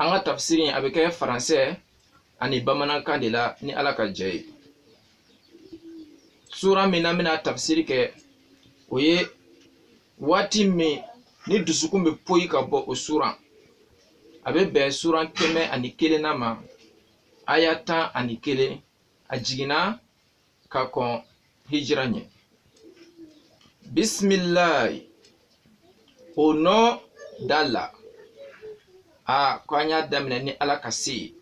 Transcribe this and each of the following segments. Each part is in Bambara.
an ka tafsiri in a bɛ kɛ faransɛ ani bamanankan de la ni ala ka jɛ ye sura min an bɛn'a tafsiri kɛ o ye waati min ni dusukun bɛ poyi ka bɔ o suran a bɛ bɛn suran kɛmɛ ani kelennan ma aya tan ani kelen a jiginna ka kɔn hijira ɲɛ bisimilayi au nom d'Allah a ko an y'a daminɛ ni ala ka se ye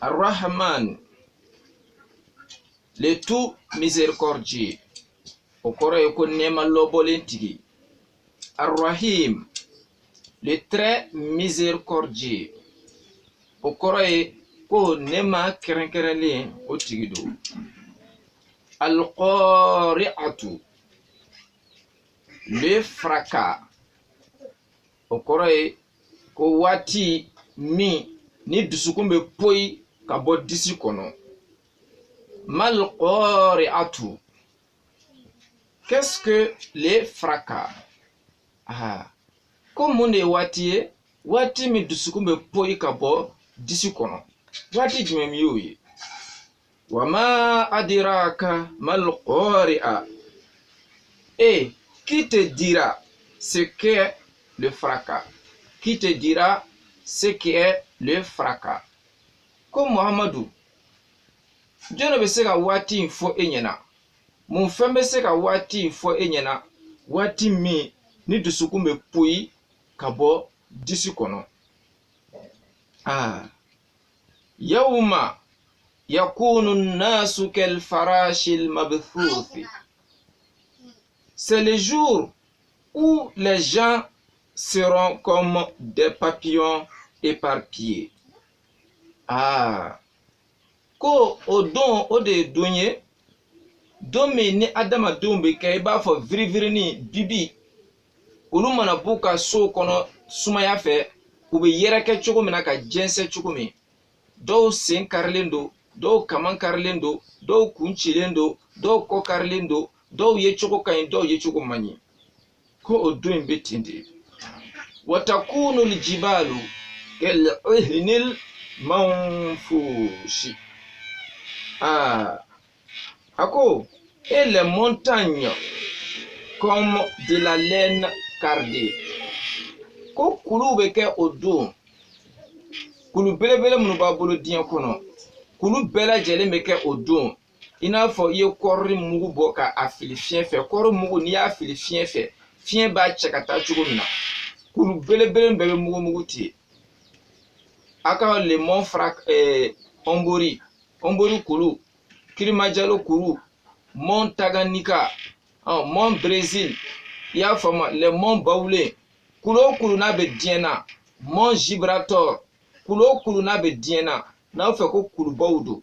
ar-rahman le tout miséricordieux o kɔrɔ ye ko nɛɛma lɔbɔlen tigi Ar-Rahim, le très miséricordieux. O kɔrɔ ye ko nɛɛma kɛrɛnkɛrɛnlen o tigi don. Al-Qari'atu, le fracas. O kɔrɔ ye ko waati min ni dusukun bɛ poyi ka bɔ disi kɔnɔ. Mal-Qari'atu. Qu'est-ce que le fracas? Ah. Ko mun de ye waati ye waati min dusukun bɛ poyi ka bɔ disi kɔnɔ waati jumɛn y'o ye wa ma adiraka mal qari'a et qui te dira ce qu'est le fracas qui te dira ce qu'est le fracas ko muhamadu Jɔnni bɛ se ka waati in fɔ e ɲɛna mun fɛn bɛ se ka waati in fɔ e ɲɛna waati min ni dusukun bɛ poyi ka bɔ disi kɔnɔ aa yawma yakunu nasu kal farashil mabthuthi c'est le jour où les gens seront comme des papillons éparpillés ah ko o don o de ye don ye don min ni adamadenw bɛ kɛ i b'a fɔ virivirini bibi olu mana b'u ka sow kɔnɔ sumaya fɛ u bɛ yɛrɛkɛ cogo min na ka jɛnsɛn cogo min dɔw sen karilen don dɔw kaman karilen don dɔw kun cilen don dɔw kɔ karilen don dɔw yecogo ka ɲi dɔw yecogo man ɲi ko o don in bɛ ten de watakunu l-jibalu kal-ihnil manfushi aa a ko et les montagnes comme de la laine cardée ko kuluw bɛ kɛ o don kulu belebele minnu b'an bolo diɲɛ kɔnɔ kulu bɛɛ lajɛlen bɛ kɛ o don i n'a fɔ i ye kɔɔri mugu bɔ ka a fili fiɲɛ fɛ kɔɔri mugu n'i y'a fili fiɲɛ fɛ fiɲɛ b'a cɛ ka taa cogo min na kulu belebele bɛɛ bɛ mugu mugu ten a ka le mont fara ɛɛ ɔnbori ɔnbori kulu kilimanjaro kulu mont tanganyika ɔ mont brésil i y'a faamu le mont bawulen kulu o kulu n'a bɛ diɲɛ na mont gibraltar kulu o kulu n'a bɛ diɲɛ na n'a fɛ ko kulubaw don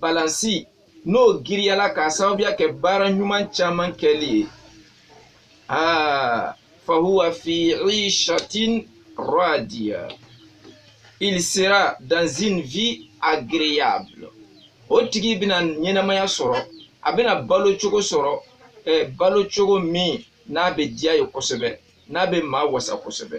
balansi n'o giriyala k'a sababuya kɛ baara ɲuman caman kɛli ye aa fahuwa fi ishatin radiya il sera dans une vie agréable o tigi bɛna ɲɛnamaya sɔrɔ a bɛna balo cogo sɔrɔ eh, balo cogo min n'a bɛ diya ye kosɛbɛ n'a bɛ maa wasa kosɛbɛ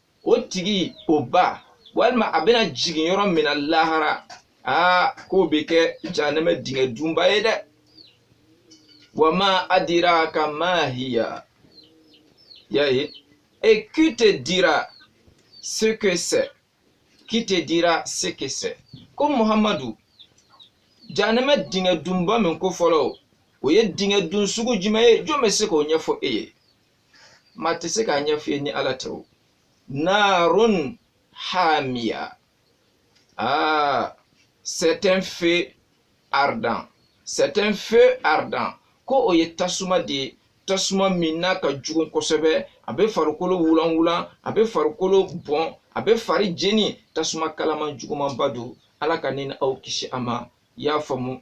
o tigi o ba walima a bɛna jigin yɔrɔ min na lahara aa k'o bɛ kɛ jahanama dingɛ dunba ye dɛ wa ma adiraka ma hiya y'a ye et qui te dira ce que c'est qui te dira ce que c'est ko muhammadu jahanama dingɛ dunba min ko fɔlɔ o ye dingɛ dun sugu jumɛn ye jɔn bɛ se k'o ɲɛfɔ e ye maa tɛ se k'a ɲɛfɔ i ye ni ala tɛ o narun hamiya ah c'est un feu ardent c'est un feu ardent ko o ye tasuma de ye tasuma min n'a ka jugu kosɛbɛ a bɛ farikolo wulanwulan a bɛ farikolo bɔn a bɛ fari jeni tasuma kalaman jugumanba don ala ka ne ni aw kisi a ma i y'a faamu